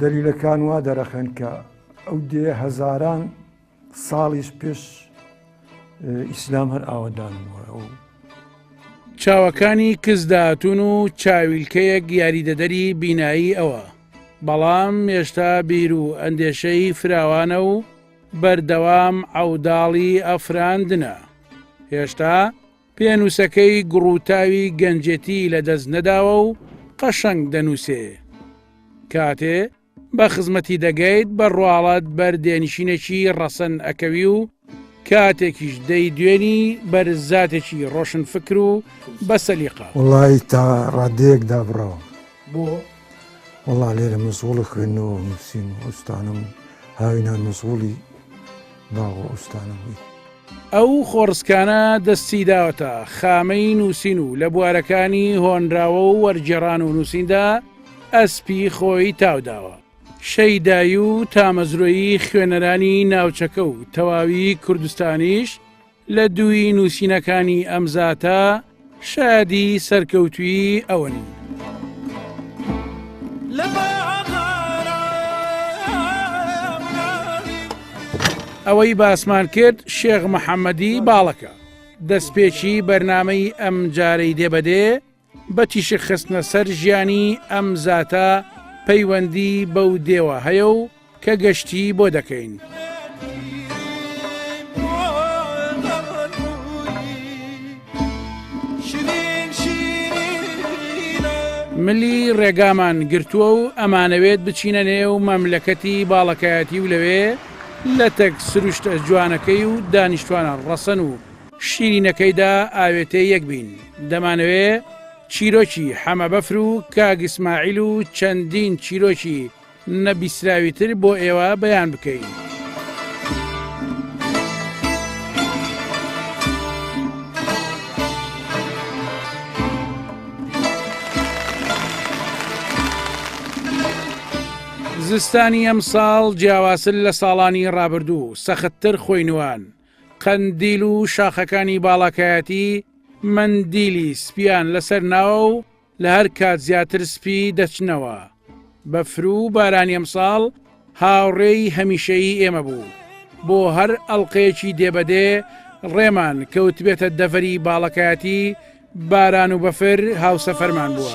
دەلیلەکان وا دەرەخەن کە ئەو دێیە هەزاران ساڵیش پێش ئیسلام هەر ئاوەدان بووە. چاوەکانی کز داهاتون و چاویلکەیەک یاریدەدەری بینایی ئەوە، بەڵام هێشتا بیر و ئەندێشەی فراوانە و بەردەوام عەوداڵی ئەفراندنە. هێشتا پێنووسەکەی گوڕوتاوی گەنجێتی لە دەست نەداوە و قەشەنگ دەنووسێ. کاتێ بە خزمەتی دەگەیت بە ڕواڵەت بەر دێنشینێکی ڕەسەن ئەکەوی و کاتێکیش دەیدوێنی بەر زاتێکی ڕۆشنفکر و بە سەلیقە. وەڵایی تا ڕادەیەک دابڕاوم. بۆ؟ وەڵا لێرە مەسغوڵی خوێندنەوە و نووسین و ئوستانم و هاوینان مەسغوڵی باغ و ئوستانم بووین. ئەو خۆڕسکانە دەستی داوەتە خامەی نووسین و لە بوارەکانی هۆنراوە و وەرگێڕان و نووسیندا ئەسپی خۆی تاوداوە. شەیدایی و تامەزرۆی خوێنەرانی ناوچەکە و تەواوی کوردستانیش لە دووی نووسینەکانی ئەم زاتە، شادی سەرکەوتوویی ئەونی. ئەوەی باسمان کرد شێخ محەممەدی باڵەکە دەستپێکی بەرنمەی ئەم جارەی دێبەدێ بە تیشک خستنە سەر ژیانی ئەم زاتە پەیوەندی بەو دێوە هەیە و کە گەشتی بۆ دەکەین. ملی ڕێگامان گرتووە و ئەمانەوێت بچینە نێو مەملەکەتی باڵەکایەتی و لەوێ لەتەک سروشتە جوانەکەی و دانیشتوانە ڕەسەن و شیرینەکەیدا ئاوێتەی یەک بین. دەمانەوێ چیرۆکی حەمەبەفر و کاک ئیسماعیل و چەندین چیرۆکی نەبیسراوی تر بۆ ئێوە بەیان بکەین. زستانی ئەم ساڵ جیاواسل لە ساڵانی ڕابردوو سەختتر خۆینوان قەندیل و شاخەکانی باڵاکایەتی مندیلی سپیان لەسەر ناوە و لە هەر کات زیاتر سپی دەچنەوە. بەفر و بارانی ئەمساڵ هاوڕێی هەمیشەیی ئێمە بوو. بۆ هەر ئەڵقەیەکی دێ بە دێ ڕێمان کەوتبێتە دەڤەری باڵەکایەتی، باران و بەفر هاوسەفەرمان بووە.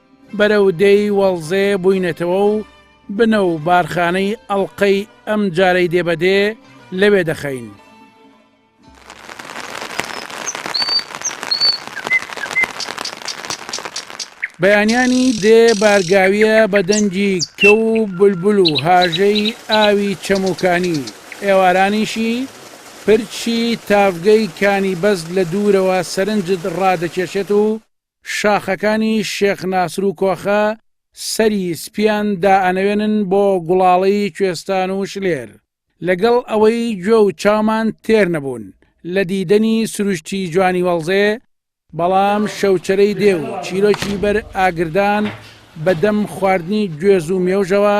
بەرەو دێی وەڵزێ بووینەتەوە و بنە و بارخانەی ئەڵقەی ئەم جارەی دێ بە دێ لەوێ دەخەین. بەیانیانی دێ بارگاویە بە دەنگی کەو و بولبول و هاژەی ئاوی چەموکانی ئێوارانیشی پرچی تاڤگەی کانی بەز لە دوورەوە سەرنجت ڕادەکێشێت و شاخەکانی شێخ ناسر و کۆخە سەری سپییان دائەنەوێنن بۆ گوڵاڵەی کوێستان و شلێر. لەگەڵ ئەوەی گوێ و چاومان تێر نەبوون لە دیدەنی سروشتی جوانی وەڵزێ، بەڵام شەوچەرەی دێ و چیرۆکی بەر ئاگردان بە دەم خواردنی گوێز و مێوژەوە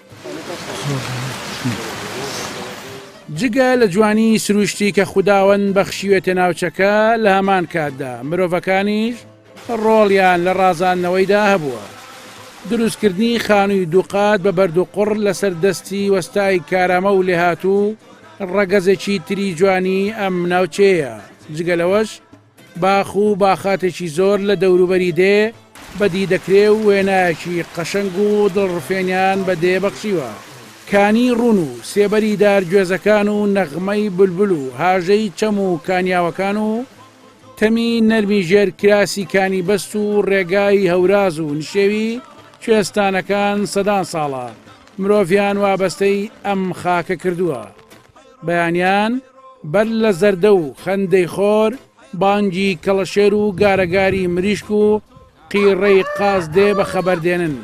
جگە لە جوانی سروشتی کە خوداوەند بەخشیوێتە ناوچەکە، لە هەمان کاتدا مرۆڤەکانیش ڕۆڵیان لە ڕازاندنەوەیدا هەبووە. دروستکردنی خانووی دووقات بە بەردوقوڕ لەسەر دەستی وەستای کارامە و لێهاتوو، ڕەگەزێکی تری جوانیی ئەم ناوچەیە. جگە لەوەش، باخ و باخاتێکی زۆر لە دەوروبەری دێ بەدی دەکرێ و وێنایەکی قەشەنگ و دڵڕفێنیان بە دێ بەخشیوە. کانی ڕوون و سێبەری دار گوێزەکان و نەغمەی بولبول و هاژەی چەم و کانیاوەکان و تەمی نەرمی ژێر کراسی کانی بەست و ڕێگای هەوراز و نشێوی کوێستانەکان سەدان ساڵە مرۆڤیان وابەستەی ئەم خاکە کردووە. بەیانیان بەر لە زەردە و خەندەی خۆر، بانگی کەڵەشێر و گارەگاری مریشک و قیڕەی قاز دێ بە خەبەر دێنن.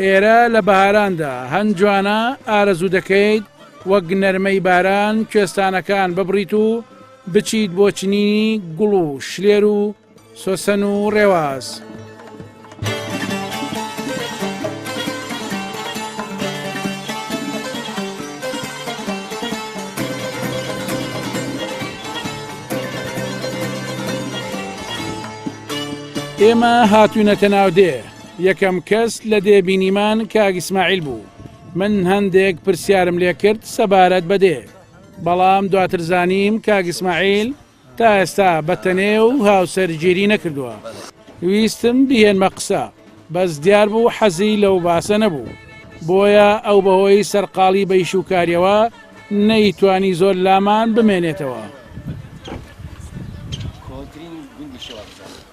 ئێرە لە بەهاراندا هەن جوانە ئارەزوو دەکەیت وەک نەرمەی باران کوێستانەکان ببڕیت و بچیت بۆ چنینی گوڵ و شلێر و سۆسن و ڕێواز. ئێمە هاتوونەتە ناو دێ یەکەم کەس لە دێ بینیمان کاک ئیسماعیل بوو من هەندێک پرسیارم لێ کرد سەبارەت بە دێ بەڵام دواتر زانیم کاک ئیسماعیل تا ئێستا بەتەنێ و هاوسەر گیری نەکردووە ویستم بیهێنمە قسە بەس دیار بوو حەزی لەو باسە نەبوو بۆیە ئەو بەهۆی سەرقاڵی بە ئیش و کاریەوە نەیتوانی زۆر لامان بمێنێتەوە. کۆنترین گوندی شێوان بزانم.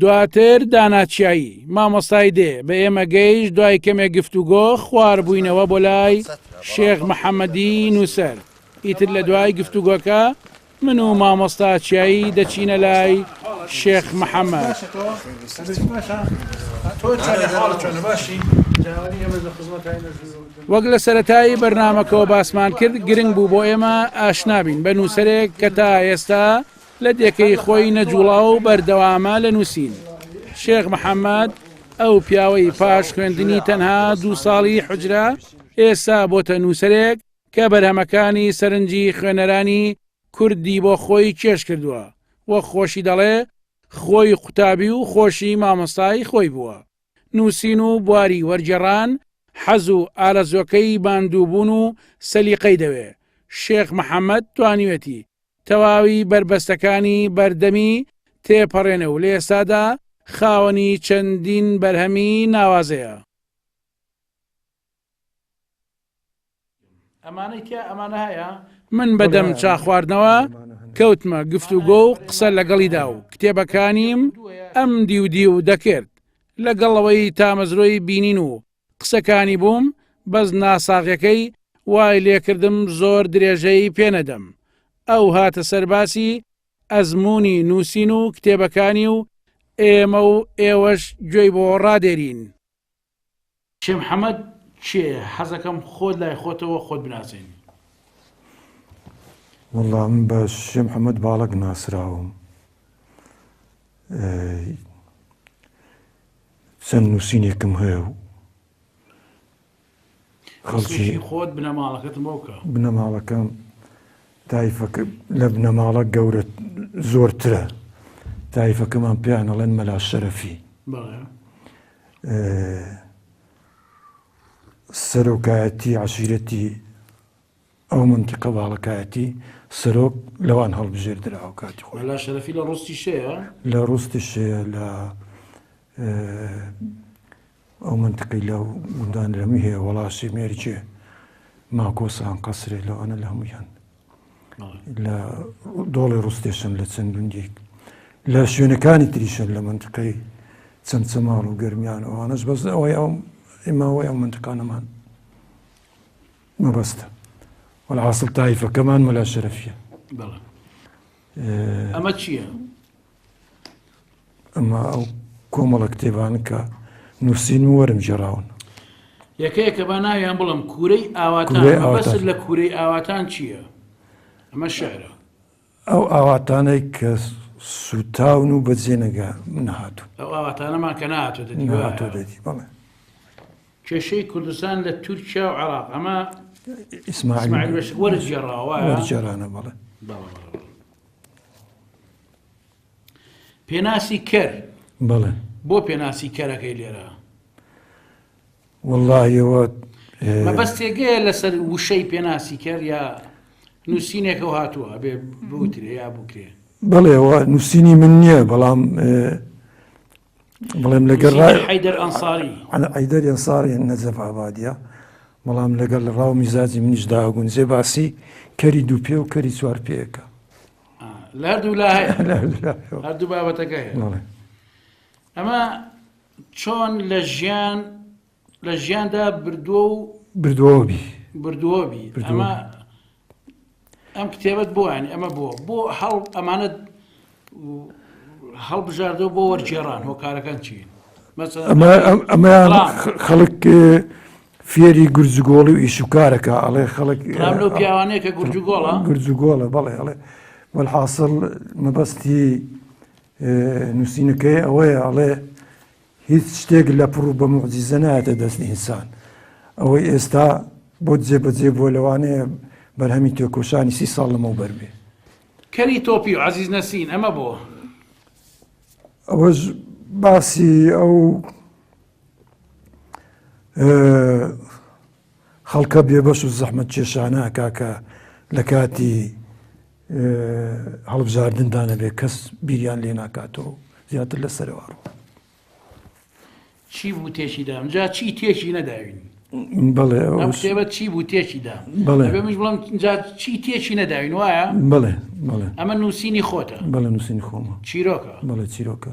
دواتر دانا چیایی مامۆستای دێ بە ئێمە گەیش دوای کەمێک گفتوگۆ خوار بووینەوە بۆ لای شێخ محەممەدی نووسەر ئیتر لە دوای گفتوگۆکە من و مامۆستا چیایی دەچینە لای شێخ محەمەد. وەک لە سەرەتایی بەرنامەکەوە باسمان کرد گرنگ بوو بۆ ئێمە ئاشنابین بە نووسەرێک کە تا ئێستا لە دێکەی خۆی نەجوڵا و بەردەوامە لە نووسین. شێخ محەممەد ئەو پیاوەی پاش خوێندنی تەنها دوو ساڵی حجرە ئێستا بۆتە نووسەرێک کە بەرهەمەکانی سەرنجی خوێنەرانی کوردی بۆ خۆی کێش کردووە و خۆشی دەڵێ خۆی قوتابی و خۆشی مامۆستای خۆی بووە. نووسین و بواری وەرگێڕان حەز و ئارەزووەکەی ماندووبوون و سەلیقەی دەوێ. شێخ محەممەد توانیوێتی تەواوی بەربەستەکانی بەردەمی تێپەڕێنێ و لە ئێستادا خاوەنی چەندین بەرهەمی ناوازەیە. من بە دەم چا خواردنەوە کەوتمە گفتوگۆ و قسە لەگەڵیدا و کتێبەکانیم ئەم دیو دیو دەکرد لەگەڵ ئەوەی تامەزرۆی بینین و قسەکانی بووم بەس ناساغیەکەی وای لێکردم زۆر درێژەی پێ نەدەم ئەو هاتە سەر باسی ئەزموونی نووسین و کتێبەکانی و ئێمە و ئێوەش گوێی بۆ ڕادێرین. کێ محمد کێ حەزەکەم خۆت لای خۆتەوە خۆت بناسێنی. وەڵا من بە شێ محمد باڵەک ناسراوم چەند نوسینێکم هەیە و خەڵکی خۆت بنەماڵەکەت مۆکە. بنەماڵەکەم تایفەکە لە بنەماڵە گەورە زۆرترە تایفەکەمان پێیان ئەڵێن مەلا شەرەفی سەرۆکایەتی عشیرەتی ئەو مەنتیقە باڵەکایەتی سەرۆک لەوان هەڵبژێردراوە کاتی خۆی لا شەرەفی لە ڕستی شەیە لە ڕستی شەیە لە ئەو منتقی لە گوندان لەمی هەیە وەڵاسی مێرجێ ماکۆسان قەسرێ لەوانە لە هەمویان لە دۆڵی ڕستێشن لە چەند گوندێک لە شوێنەکانی تریشن لە منتقەی چەند چەماڵ و گەرمیان ئەوانش بەس ئەوەی ئەو ئێماوەی ئەو منتقانەمان مەبەستە وەلحاسڵ تایفەکەمان مەلا شەرەفیە بەڵێ ئەمە چییە؟ ئەمە ئەو کۆمەڵە کتێبان کە نووسین و وەرم جێراون یەکەیەکە با ناویان بڵم کوورەی ئاواتان کورەی بەسر ئاواتان. لە کوورەی ئاواتان چییە؟ ئەمە شعرە ئەو ئاواتانەی کە سووتاون و بەجێ نەگە نەهاتوو ئەو ئاواتانەمان کە ناتۆ نەهاتوو دەدی بەڵێ کێشەی کوردستان لە تورکیا و عراق ئەمە ئیسماعیل بەش وەرجێڕاوە وەرجێرانە بەڵێ پێناسی کەر بەڵێ بۆ پێناسی کەرەکەی لێرە وەڵاهی ئەوە مەبەستێگەیە لەسەر وشەی پێناسی کەر یا نووسینێکەوە هاتووە ئەبێ بوترێ یا بکرێ بڵێەوە نووسینی من نییە بەڵام بڵێم لەگەر حیدەر ئەنساری ئەیدەر ئەنساری نەزەف ئابادە بەڵام لەگەر لە ڕاو میزاجی منیش داگون زێ باسی کەری دوو پێ و کەری چوار پێەکە لە دوو لا هەردوو بابەتەکە هەیە ئەمە چۆن لە ژیان لە ژیاندا بردووە و بردووەوبی بردووەبی ئەمە ئەم کتێبەت بۆیانی ئەمە بۆ بۆ هەڵ ئەمانەت هەڵبژاردەوە بۆ وەرجێڕان هۆکارەکان چین ئەمە خەڵک فێری گورجگۆڵی و ئیشوکارەکە ئەڵێ خەڵک پیاوانەیە کە گورجگۆڵە گورجگۆڵە بەڵێ ئەڵێ وەحاصل مەبەستی نوسینەکەی ئەوەیە ئەڵێ هیچ شتێک لە پڕ و بە موعجیزە نایەتە دەست ئینسان ئەوەی ئێستا بۆ جێبەجێ بووە لەوانەیە بەرهەمی تێکۆشانی سی ساڵ لەمەو بەر بێ کەری تۆپی و عەزیز نەسین ئەمە بۆ ئەوەش باسی ئەو خەڵکە بێبەش و زەحمەت کێشانە کاکە لە کاتی هەڵبژاردن دانەبێت کەس بیریان لێ ناکاتەوە زیاتر لە سەرەوە ڕوو چی بوو تێکی دام جا چی تێکی نەداوین بڵێ شێوە چی بوو تێکی دام بڵێ بەمش بڵم جا چی تێکی نەداوین وایە بڵێ بڵێ ئەمە نووسینی خۆتە بڵێ نووسینی خۆمە چیرۆکە بڵێ چیرۆکە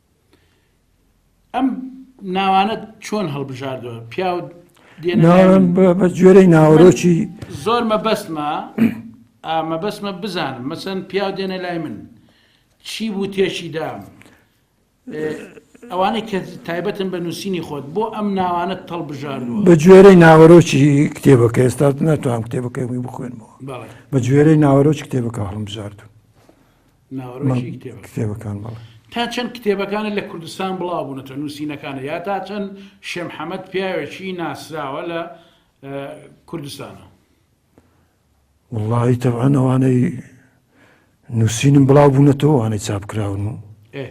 ئەم ناوانە چۆن هەڵبژاردوە پیاو بە جۆرەی ناوەرۆکی زۆر مەبەستمە مەبەستمە بزانم مەسەن پیاو دێنە لای من چی بوو تێشی دام ئەوانەی کە تایبەتن بە نووسینی خۆت بۆ ئەم ناوانە تەڵ بژاردوە بە جۆرەی ناوەرۆکی کتێبەکە ئێستا ناتوانم کتێبەکەی بخوێنمەوە بە جۆرەی ناوەرۆکی کتێبەکە هەڵم بژاردون ناوەرۆکی کتێبەکان بەڵێ. تا چەند کتێبەکانت لە کوردستان بڵاو بوونەتەوە نووسینەکانت یا تا چەند شێم حەمەد پیاوێکی ناسراوە لە کوردستانە؟ وەڵاهی تەبعەن ئەوانەی نووسینم بڵاو بوونەتەوە ئەوانەی چاپ کراون و ئێ.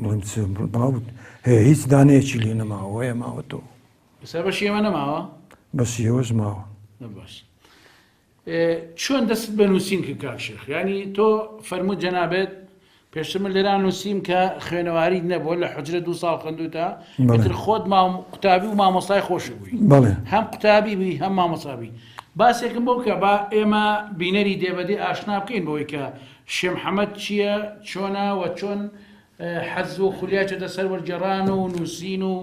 بڵێم چ باوت هەیە هیچ دانەیەکی لێ نەماوە هەیە ماوە تۆ بەسەر بەشی ئێمە نەماوە بەس ئێوەش ماوە نە باش ئێ، چۆن دەست بە نووسین کرد کاک شێخ ینی تۆ فەرموو جەنابێت پێشتر من لێرا نووسیم کە خوێنەواریت نەبووە لە حجرە دوو ساڵ خوێندوتە بەڵێ. ئیتر خۆت مام قوتابی و مامۆستای خۆشی بووی بەڵێ هەم قوتابی بووی هەم مامۆسابی باسێکم بۆ بکە با ئێمە بینەری دێبەدی ئاشنا بکەین بەوەی کە شێمحەمەد چیە چۆنە وە چۆن حەز و خولیای چۆتە سەر وەرگێڕان و نووسین و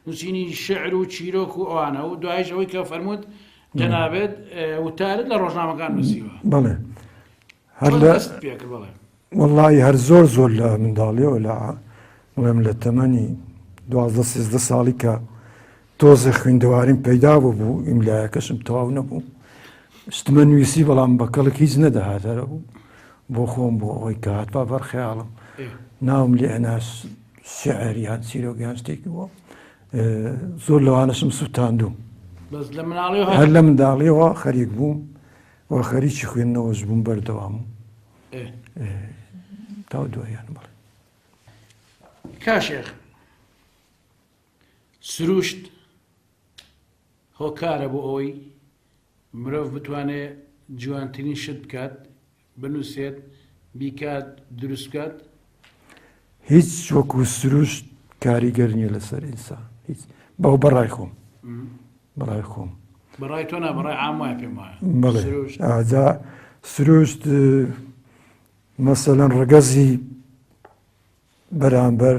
نووسینی شعر و چیرۆک و ئەوانە و دوایش ئەوەی کە فەرمووت جەنابێت وتارت لە ڕۆژنامەکان نووسیوە بەڵێ هەر لە دەست پێ کرد بەڵێ وەڵی هەر زۆر زۆر لە منداڵیەوە لە بڵێم لە تەمەنی دوازدە سێزدە ساڵی کە تۆزێ خویندەواریم پەیدا ببوو ئیملایەکەشم تەواو نەبوو شتمە نویسی بەڵام بە کەڵک هیچ نەدەهاتەرە بوو بۆ خۆم بۆ ئەوەی کە هاتبا بەر خەیاڵم ناوم لێ ئەناس شعر یان چیرۆگەیان شتێکی بووە زۆر لەوانەشم سووتاندوم هەر لە منداڵیەوە خەریک بووم و خەریکی خوێندنەوەش بووم بەردەوام تا دوایان بڵێ کاشێخ سروشت هۆکارە بۆ ئەوەی مرۆڤ بتوانێت جوانترین شت بکات، بنووسێت، بیکات، دروست بکات. هیچ وەکو سروشت کاریگەر نیە لەسەر ئینسان هیچ بەو بەڕای خۆم بەڕای خۆم بەڕای تۆ نا بەڕای عام وایە پێم وایە بەڵێ سروشت ئاجا سروشت مەسەلەن ڕەگەزی بەرامبەر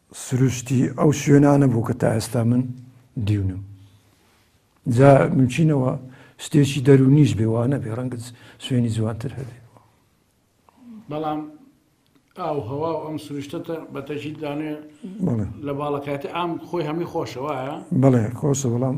سروشتی ئەو شوێنانە بوو کە تا ئێستا من دیونم. جا ممچینەوە شتێکی دەروونیش بێ وانەبێ ڕەنگە شوێنی جوانتر هەبێ. بەڵام ئاو هەوا و ئەم سروشتەتە بە تەژید دانێ لە باڵەکایەتی ئام خۆی هەمی خۆشەوەە بڵێ خۆشە بەڵام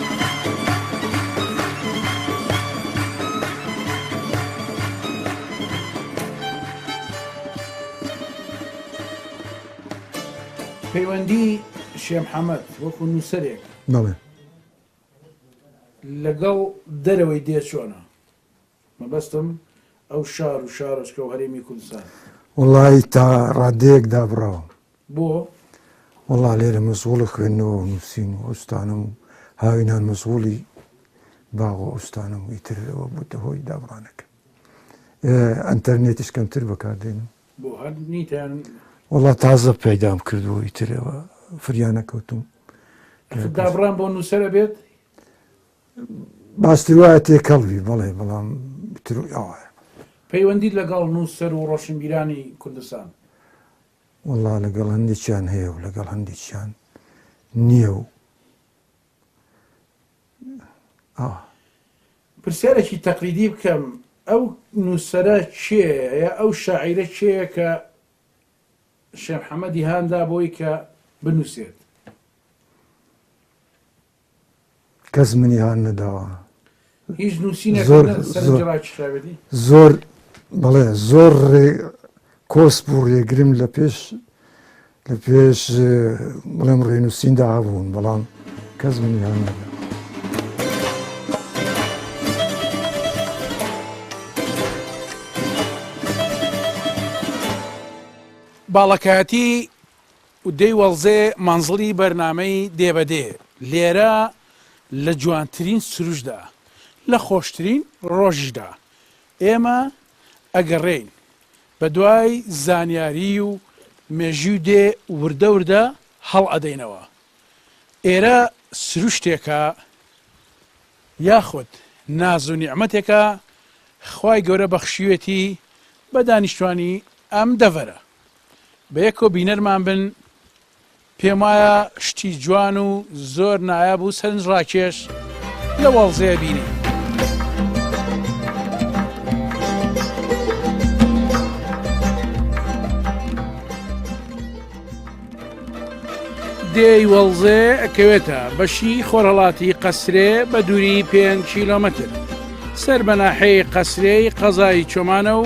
پەیوەندی شێ محەمەد وەکو نووسەرێک بەڵێ. لەگەڵ دەرەوەی دێ چۆنە؟ مەبەستم ئەو شار و شارۆچکە و هەرێمی کوردستانە. وەڵایی تا ڕادەیەک دابڕاوم. بۆ؟ وەڵا لێرە مەسغوڵە خوێندنەوە و نووسین و ئەو شتانەم و هاوینان مەسغوڵی باغ و ئەو شتانەم و ئیتر ئەوە بووتە هۆی دابڕانەکەم. ئەنتەرنێتیش کەمتر بەکار دێنم. بۆ هەر نیت یان؟ وەڵا تازە پەیدام کرد و ئیتر ئەوە فریا نەکەوتووم. دابڕان بۆ نووسەر ئەبێت؟ باستر وایە تێکەڵ بی بەڵێ بەڵام تر ئەوایە. پەیوەندیت لەگەڵ نووسەر و ڕۆشنبیرانی کوردستان؟ وەڵا لەگەڵ هەندێکیان هەیە و لەگەڵ هەندێکیان نییە و ئەوە. پرسیارێکی تەقلیدی بکەم ئەو نووسەرە کێیە ئەو شاعیرە کێیە کە شێخ محەممەدی هان دا بۆی کە بنووسێت؟ کەس منی هان نەداوە هیچ نووسینێک زۆر- نە- زۆر. سەرنجی ڕاکیشاوێتی زۆر بەڵێ زۆر ڕێ کۆس بوو ڕێگرم لە پێش لە پێش اه، بڵێم ڕێنووسیندا هەبوون بەڵام کەس منی هان نەدا باڵەکایەتی و دەی وەڵزێ مەنزڵی بەرنامەی دێ بە دێ لێرە لە جوانترین سروشدا لە خۆشترین ڕۆژیشدا ئێمە ئەگەڕێین بە دوای زانیاری و مێژوی و دێ وردە وردە هەڵ ئەدەینەوە ئێرە سروشتێکە یاخود ناز و نیعمەتێکە خوای گەورە بەخشیوێتی بە دانیشتوانی ئەم دەڤەرە. بەیەکەوە بینەرمان بن پێم وایە شتی جوان و زۆر نایاب و سەرنج ڕاکێش لە وەڵزەیە بینی. دێی وەڵزێ ئەکەوێتە بەشی خۆرهڵاتی قەسرێ بە دووری پێ کیلومتر سەر بەناحەی قەسرەی قەزای چۆمانە و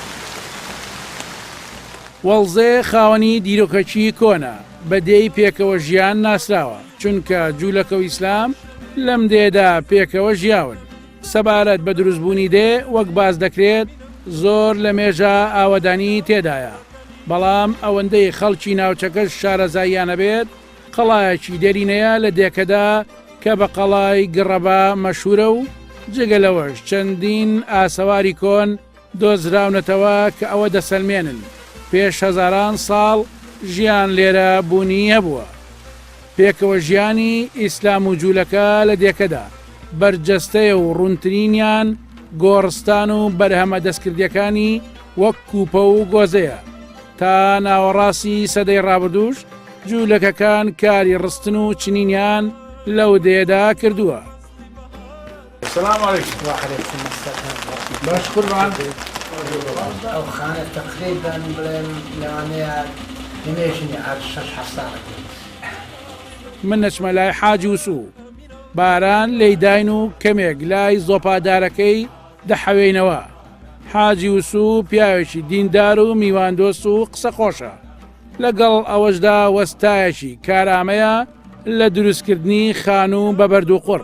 وەڵزێ خاوەنی دیرۆکەکی کۆنە، بە دێی پێکەوە ژیان ناسراوە، چونکە جوولەکە و ئیسلام لەم دێدا پێکەوە ژیاون. سەبارەت بە دروستبوونی دێ وەک باس دەکرێت زۆر لە مێژە ئاوەدانی تێدایە، بەڵام ئەوەندەی خەڵکی ناوچەکەش شارەزاییانە بێت قەڵایەکی دێرینەیە لە دێکەدا کە بە قەڵای گڕەبا مەشهوورە و جگە لەوەش چەندین ئاسەواری کۆن دۆزراونەتەوە کە ئەوە دەسەلمێنن پێش هەزاران ساڵ ژیان لێرە بوونی هەبووە. پێکەوە ژیانی ئیسلام و جوولەکە لە دێکەدا بەرجەستەیە و ڕوونترینیان گۆڕستان و بەرهەمە دەستکردیەکانی وەک کوپە و گۆزەیە. تا ناوەڕاستی سەدەی ڕابردووش جوولەکەکان کاری ڕستن و چنینیان لەو دێدا کردووە. سلام علیکم وعلیکم السلام باش قوربان ئەو خانە تەقریر بەن بڵێن لەوانەیە دنێ ژنی عاد شەش حەسانە من نەچمە لای حاجی وسو باران لی داین و کەمێک لای زۆپادارەکەی دەحەوێینەوە حاجی وسو پیاوێکی دیندار و میواندۆست و قسە خۆشە لەگەڵ ئەوەشدا وەستایەکی کارامەیە لە دروستکردنی خانوو بە بەردووقڕ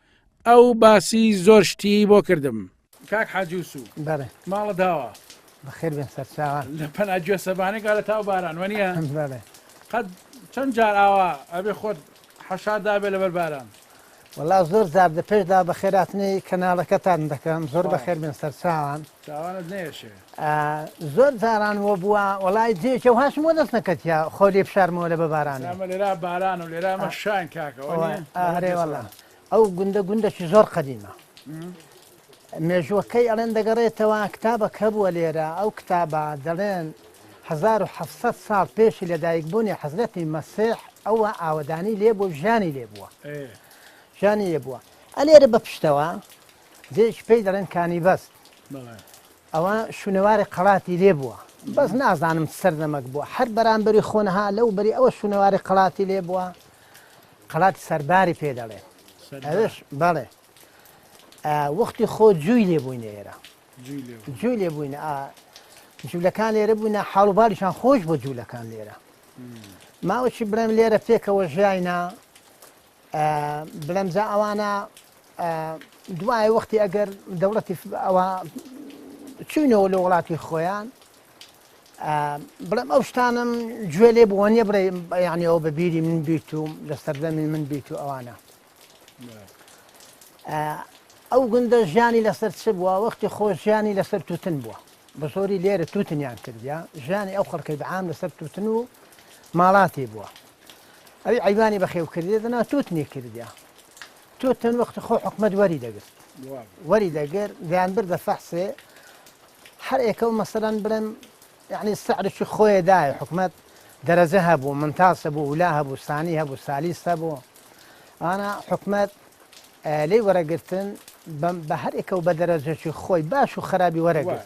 ئەو باسی زۆر شتی بۆ کردم کاک حاجوسو بەێ ماڵە داوە بەخێر بێن سەرچاوە لە پەنا گوێ سەبانێک گالە تاو باران وەنیە بەێ قەت چەند جار ئاوا ئەبێ خۆت حەشادابێ لەبەر باران وەڵا زۆر زار دە پێشدا بەخێراتنی کەناڵەکەتان دەکەم زۆر بەخێر بێن سەرچاوان چاوانت نەیەشێ. زۆر جاران وە بوە وەڵای جێکە و هاشم وە دەست نەکەتیە خۆ لێ فشارمەوە لە بە بارانێ. ئێمە لێرا باران و لێرا ئەمە شاین کاکە وە نیە؟ ئارێ وەڵا ئەو گوندە گوندەکی زۆر قەدیمە. مێژووەکەی ئەڵێن دەگەڕێتەوە کتابەک هەبووە لێرە ئەو کتابە دەڵێن 1700 ساڵ پێشی لە دایک بوونی حەزرەتی مەسیح ئەوە ئاوەدانی لێ بوو ژانی لێ بووە ژانی لێ بووە ئەلێرە بە پشتەوە جێیەکی پێی دەڵێن کانیبەست ئەوە شونەوارێ قەڵاتی لێ بووە بەس نازانم سەردەمەک بووە هەر بەرامبەری خۆنەها لەو بەری ئەوە شونەواری قەڵاتی لێ بووە قەڵاتی سەرباری پێ دەڵێن ئەوش بەڵێ وەختی خۆ جووی لێ بووینە ئێرە جووی لێ بووینە جوولەکان لێرە بووینە حاڵوباریشان خۆش بۆ جوولەکان لێرە ماوەی بڵێم لێرە پێکەوە ژیاینا بلێم جا ئەوانە دوای وەختی ئەگەر دەوڵەتی ئەوە چوینەوە لە وڵاتی خۆیان بڵێم ئەو شتانم گوێ لێ بووە نیە بڵێ یانەوە بە بیری من بیت و لە سەردەمی من بیت و ئەوانە ئەو گوندە ژیانی لەسەر چ بووە وەختی خۆ ژیانی لەسەر توتن بووە بە زۆری لێرە توتنیان کردیا ژیانی ئەو خەڵکەی بەعام لەسەر توتن و ماڵاتی بووە ئەوی عەیوانی بەخێو کردێ دەنا تۆت نێ کردیا تۆ تەن وەخت خۆ حکومت وەری دەگرت وەری دەگر دەیان بردە فەحسێ هەر ئێکە و مەسەرەن بڵێم یعنی سەعرشی خۆیە دایە حکومت دەرەجە هەبوو منتاسە بوو ولا هەبوو سانی هەبوو سالیس هەبوو ئانا حکومت لێ وەرەگرتن بە هەر ئێکە و بە دەرەجەکی خۆی باش و خراپی وەرەگرت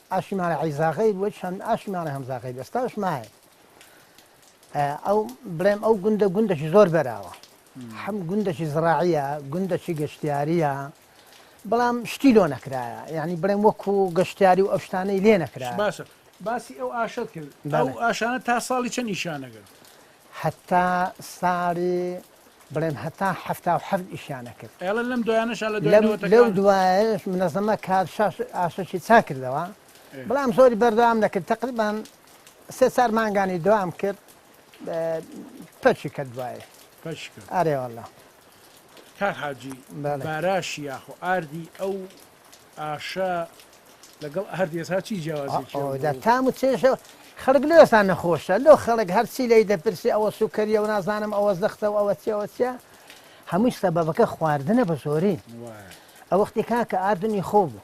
ئاشی ماڵی عیزا غەیر وەج هەم ئاشی ماڵی هەمزا غەیر ئێستاش مایە ئەو بڵێم ئەو گوندە گوندەشی زۆر بەراوە هەم گوندەشی زراعە گوندەشی گەشتیاریە بەڵام شتی لۆ نەکرایە یعنی بڵێم وەکو گەشتیاری و ئەوشتانەی لێ نەکرا باشە باسی ئەو ئاشت کرد ئەو ئاشانە تا ساڵی چە نیشانەگرت هەتا ساڵی بڵێم هەتا حەفتا و حەفت ئیشیانە کرد. ئێڵێ لەم دوایانەشا لە دوای نەوەتەکان. لەو دوایانەش منەزەمە کار شاش ئاسۆشی چا کردەوە بەڵام زۆری بەردەوام نەکرد تەقریبان سێ چار مانگانی دوام کرد پەچی کە دوای پەچ کرد ئارێ واللە. کاک حاجی باراشی یاخۆ ئاردی ئەو ئاشە لەگەڵ ئاردێسا چی جیاوازێکی هەبوو؟ ئەوەدا تام و چێژە و خەڵک لۆسا نەخۆشە لۆ خەڵک هەرچی لێی دەپرسی ئەوە سوکەریە و نازانم ئەوە زەختە و ئەوە چی ئەوە چیە هەمووی سەبەبەکە خواردنە بە زۆری ئەو وەختی کاکە ئاردن ئی خۆ بوو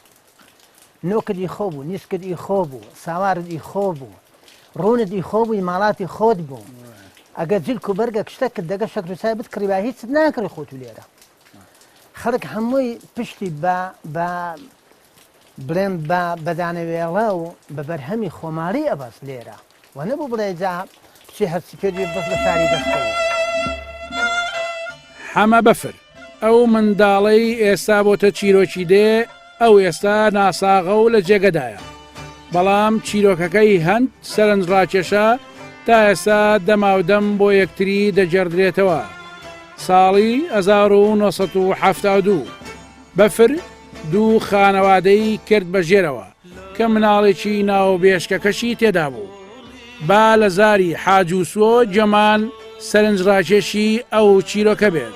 نۆکت ئی خۆ بوو نیسکت ئی خۆ بوو ساوارت ئی خۆ بوو ڕوونت ئی خۆ بووی ماڵاتی خۆت بوو ئەگەر جلک و بەرگە کشتەکرد دەگە شەکر و چای بتکڕی با هیچت ناکڕی خۆت و لێرە خەڵک هەمووی پشتی بە بە بڵێم بە بەدانەوێڵە و بە بەرهەمی خۆماڵی ئەبەست لێرە و نەبوو بڵێ جا بچێ هەرچی پێت بێ بەس لە شاری دەستەوە. حەمە بەفر، ئەو منداڵەی ئێستا بۆتە چیرۆکی دێ، ئەو ئێستا ناساغە و لە جێگەدایە، بەڵام چیرۆکەکەی هەند سەرنجڕاکێشە، تا ئێستا دەماودەم بۆ یەکتری دەگێڕدرێتەوە. ساڵی هەزار و نۆ سەد و حەفتا و دوو، بەفر دوو خانەوادەی کرد بە ژێرەوە، کە مناڵێکی ناوبێشکەکەشی تێدا بوو. با لە زاری حاجوسۆ جەمان سەرنجڕاکێشی ئەو چیرۆکە بێت.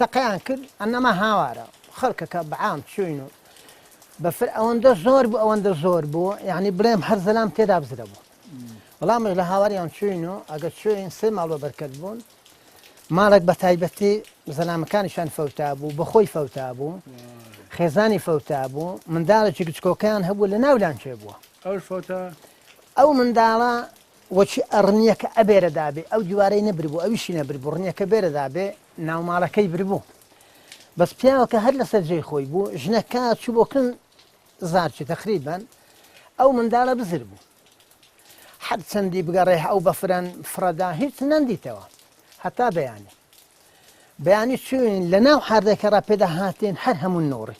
تەقەیان کرد ئەنەما هاوارە خەڵکەکە بەعام چوین و بەفر ئەوەندە زۆر بوو ئەوەندە زۆر بوو یعنی بڵێم هەر زەلام تێدا بزرە بوو وەڵامش لە هاواریان چوین و ئەگەر چوین سێ ماڵ بە بەرکەت بوون ماڵێک بە تایبەتی زەلامەکانیشان فەوتا بوو بەخۆی فەوتا بوو خێزانی فەوتا بوو منداڵێکی گچکۆکەیان هەبوو لە ناولان چێ بووە ئەو فۆتە ئەو منداڵە وەچی ئە رنیەکە ئە بێرە دابێ ئەو دیوارەی نە بربوو ئەویشی نە بربوو رنیەکە بێرە دابێ ناو ماڵەکەی بربوو بەس پیاوەکە هەر لەسەر جێی خۆی بوو ژنەکە چوو بۆ کن زارچی تەقریبەن ئەو منداڵە بزر بوو هەر چەندی بگەڕێ ئەو بە فرەن فرەدا هیچ نەندیتەوە هەتا بەیانی بەیانی چوین لە ناو حاردەکە ڕا پێدا هاتین هەر هەموو نۆڕی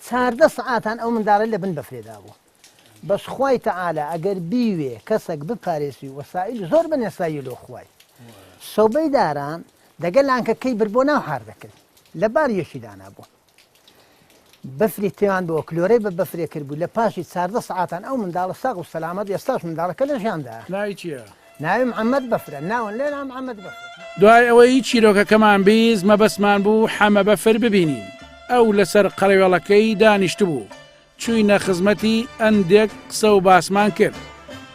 چاردە سەعاتان ئەو منداڵە لە بن بەفرێدا بوو بەس خوای تعالی ئەگەر بیوێ کەسەک بپارێزی وەسائیل زۆر بە نەسایی لۆ خوای سۆبەی داران دەگە لانکە کەی بر بۆ ناو حاردەکەی لە بار یەکی دانا بوو بەفری تێوان بۆ کلۆرەی بە بەفرێ کرد بوو لە پاشی چاردە سعاتان ئەو منداڵە ساغ و سەلامەت ئێستاش منداڵەکە لە ژیاندا ناوی چیە؟ ناوی محەمەد بەفرە ناون لێ نام محەمەد بەفرە. دوای ئەوەی چیرۆکەکەمان بیست مەبەستمان بوو حەمە بەفر ببینین ئەو لەسەر قەرەوێڵەکەی دانیشتبوو چووینە خزمەتی ئەندێک قسە و باسمان کرد.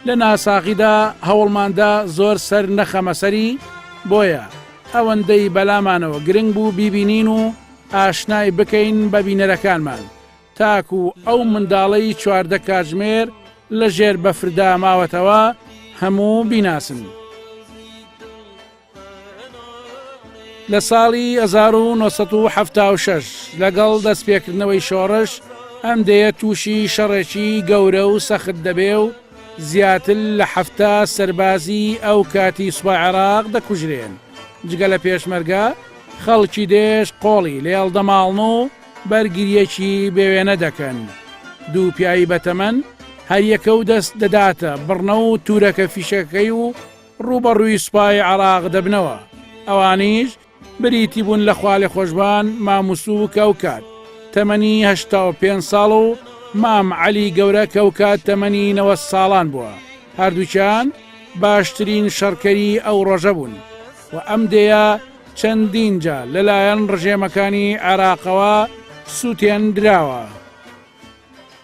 لە ناساغیدا هەوڵماندا زۆر سەر نەخەمە سەری، بۆیە ئەوەندەی بەلامانەوە گرنگ بوو بیبینین و ئاشنای بکەین بە بینەرەکانمان، تاکوو ئەو منداڵەی چواردە کاتژمێر لە ژێر بەفردا ماوەتەوە هەموو بیناسن. لە ساڵی 1976 لەگەڵ دەستپێکردنەوەی شۆڕش ئەم دەیە تووشی شەڕێکی گەورە و سەخت دەبێ و زیاتر لە هەفتا سەربازی ئەو کاتی سوپا عێراق دەکوژرێن جگە لە پێشمەرگە خەڵکی دێش قۆڵی لێڵ دەماڵن و بەرگریەکی بێوێنە دەکەن دوو پیاوی بەتەمەن هەریەکە و دەست دەداتە بڕنە و تورەکە فیشەکەی و ڕووبەڕووی سوپای عێراق دەبنەوە، ئەوانیش بریتی بوون لە خوالێخۆشبان ماموسوو کەوکات تەمەنی هەشتا و پێنج ساڵ و مام عەلی گەورە کەوکات تەمەنی نەوەد ساڵان بووە، هەردووکیان باشترین شەڕکەری ئەو ڕۆژە بوون و ئەم دێیە چەندین جار لەلایەن ڕژێمەکانی عێراقەوە سووتێندراوە.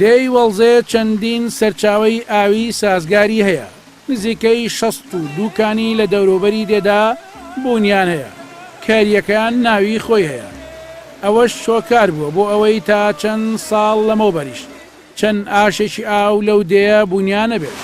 دێی وەڵزێ چەندین سەرچاوەی ئاوی سازگاری هەیە، نزیکەی شەست و دوو کانی لە دەوروبەری دێدا بوونیان هەیە، کارییەکەیان ناوی خۆی هەیە. ئەوەش هۆکار بووە بۆ ئەوەی تا چەند ساڵ لەمەوبەریش، چەن ئاشێکی ئاو لەو دێیە بونیانە بێت.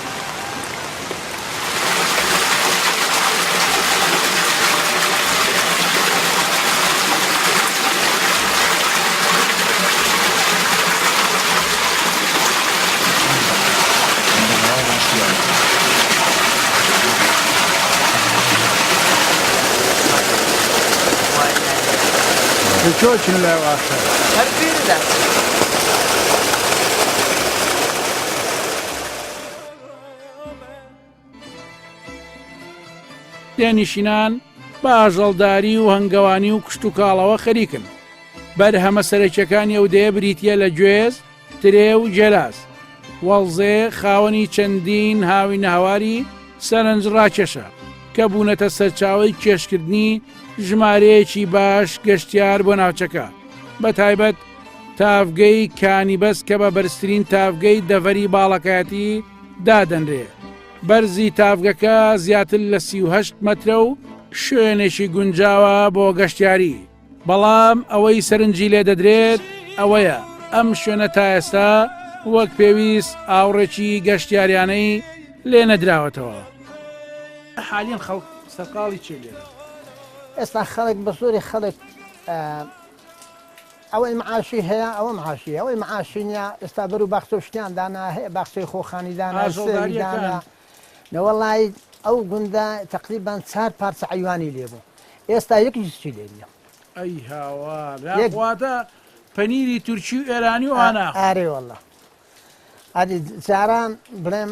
دێنشینان بە ئاژەڵداری و هەنگەوانی و کشتتوکاڵەوە خەریکن بەرهەمە سەرەکیەکانی ئەو دەیە بریتە لە گوێز ترێ و جەلاس وەڵزێ خاوەنی چەندین هاوی ناواری سەرنج ڕاکێشە کە بوونەتە سەرچاوی کێشکردنی ژمارەیەکی باش گەشتیار بۆ ناوچەکە. بەتایبەت تاڤگەی کانی بەز کە بە بەرزترین تاڤگەی دەڤەری باڵەکایەتی دادەنرێ، بەرزی تاڤگەکە زیاتر لە سی و هەشت مەترە و شوێنێکی گونجاوە بۆ گەشتیاری، بەڵام ئەوەی سەرنجی لێ دەدرێت ئەوەیە ئەم شوێنە تا ئێستا وەک پێویست ئاوڕێکی گەشتیاریانەی لێ نەدراوەتەوە. حالیەن خەڵک سەرقاڵی چێ لێرە؟ ئێستا خەڵک بە زۆری خەڵک ئەوەی معاشی هەیە ئەوە معاشی ئەوەی معاشی نیە ئێستا بەرو باخچە و شتیان دانا هەیە باخچەی خۆخانی دانا سێوی دانا نەوەڵی ئەو گوندە تقریبان چار پارچە عیوانی لێ بوو ئێستا یەکیش چی لێ نیە ئەی هاوار واتە پەنیری تورکی و ئێرانی و ئانا ئارێ وەڵا ئەدی جاران بڵێم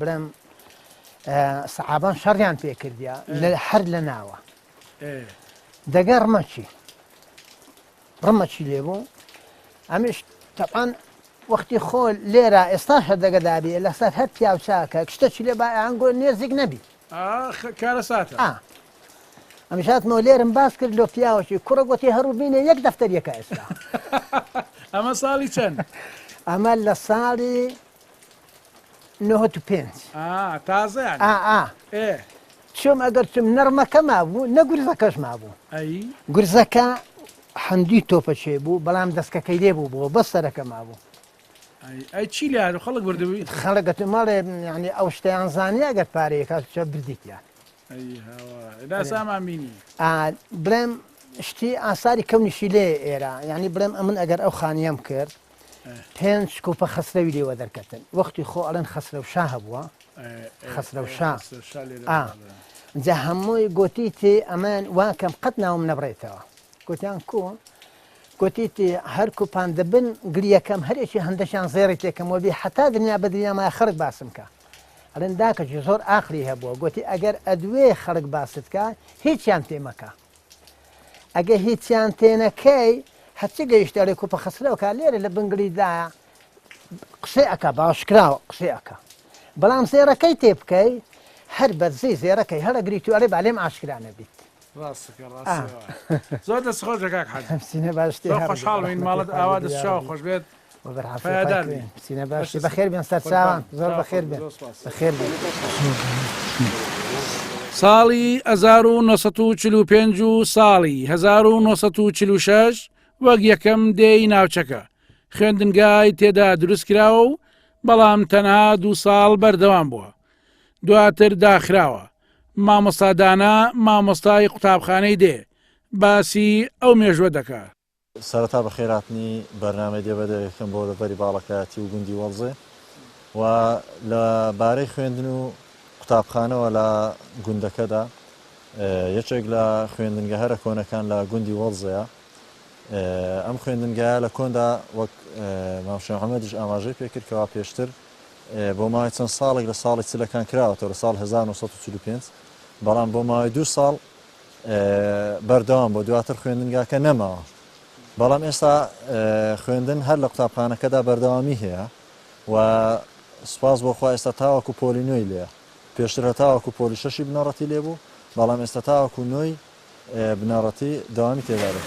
برام سەحابان شەڕیان پێ کردیا لە هەر لە ناوە دەگە ڕمەچی ڕمەچی لێ بوو ئەمیش تەعاان وەختی خۆ لێرە ئێستا هەر دەگەدابێ لەسەر هەر پیاوچاکە شتەچی لێ بایانگۆ نێزیک نەبی کارە ساتە ئەمشاتمەوە لێرم باس کرد لۆ پیاوەکی کوڕە گوتی هەروو بینێ یەک دەفتەر یەکە ئێستا ئەمە ساڵی چەند ئەمە لە ساڵی نهۆت و پێنج تازەیان چۆم ئەگەر چم نەرمەکە مابوو نەگورزەکەش مابوو گورزەکە هەندی تۆپە چێ بوو بەڵام دەستکەکەی لێ بوو بۆ بە سەرەکە مابوو ئەی چی لە خەڵک بردبووی خەڵگەت ماڵێ ینی ئەو شتیان زانانی ئەگەر پارەیەکە چە بردیتە بڵێم شتی ئاساری کەونیشی لێ ئێرە ینی بڵێم ئەمن ئەگەر ئەو خانیەم کرد پێنج کوپە خەسرەوی لێوە دەرکەتن وەختی خۆ ئەڵێن خەسرەو شا هەبووە خەسرەو شا جا هەمووی گوتی تێ ئەمان واکەم قەت ناوم نەبڕێتەوە گوتیان کو گوتی تێ هەر کوپان دەبن گریەکەم هەرێکی هەندەشان زێڕی تێکەم وەبی حتا دنیا بە دنیاما خەرک باسم کە ئەلێن داکەجی زۆر ئاخری هەبووە گوتی ئەگەر ئەدوێ خەڵک باستکە هیچیان تێمەکە ئەگە هیچیان تێنەکەی هەچی گەیشتە لە کوپە خەسرەوەکە لێرە لە بنگلیدایە قسەی ئەکە باشکراوە قسەی ئەکە بەڵام زێرەکەی تێ بکەی هەر بەرزی زێرەکەی هەڵەگری تو ئەرێ بالێم ئاشکرانە بیت زۆر دەست خۆش دەکات حەزینە باش خۆشحاڵین ماڵت ئاوا دەستشاو خۆش بێت پایەدار بی سینە باشی بەخێر بێن سەرچاوان زۆر بەخێر بێن بەخێر بێن ساڵی 1945 و ساڵی 1946 وەک یەکەم دێی ناوچەکە خوێندنگای تێدا دروست کراوە و بەڵام تەنها دوو ساڵ بەردەوام بووە دواتر داخراوە مامۆستادانە مامۆستای قوتابخانەی دێ باسی ئەو مێژوە دەکات سەرەتا بەخێرهاتنی بەرنامەی دێ بە دەرێکم بۆ دەڤەری باڵەکایەتی و گوندی وەڵزێ و لە بارەی خوێندن و قوتابخانەوە لە گوندەکەدا یەکێک لە خوێندنگە هەرە کۆنەکان لە گوندی وەڵزەیە ئەم خوێندنگایە لە کۆندا وەک مامشێ حەمەدیش ئاماژەی پێکرد کەوا پێشتر بۆ ماوەی چەند ساڵێک لە ساڵی چلەکان کراوەتەوە لە ساڵ 1945 بەڵام بۆ ماوەی دوو ساڵ بەردەوام بووە دواتر خوێندنگاکە نەماوە بەڵام ئێستا خوێندن هەر لە قوتابخانەکەدا بەردەوامی هەیە و سپاس بۆ خوا ئێستا تاوەکو پۆلی نوێی لێە پێشتر هە تاوەکو پۆلی شەشی بنەڕەتی لێ بوو بەڵام ئێستا تاوەکو نوۆی بنەڕەتی داوامی تێدارێت.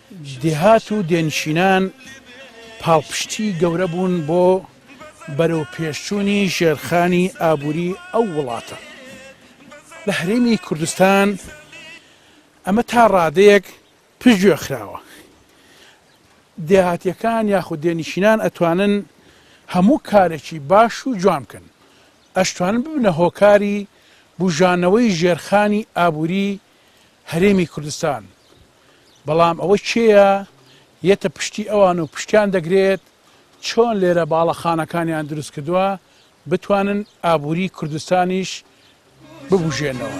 دێهات و دێنشینان پاڵپشتی گەورە بوون بۆ بەرەوپێشچوونی ژێرخانی ئابووری ئەو وڵاتە. لە هەرێمی کوردستان ئەمە تا ڕادەیەک پشتگوێ خراوە. دێهاتییەکان یاخود دێنشینان ئەتوانن هەموو کارێکی باش و جوان بکەن. ئەشتوانن ببنە هۆکاری بووژانەوەی ژێرخانی ئابووری هەرێمی کوردستان بەڵام ئەوە کێیە یەتە پشتی ئەوان و پشتیان دەگرێت، چۆن لێرە باڵەخانەکانیان دروست کردووە، بتوانن ئابووری کوردستانیش ببوژێنەوە.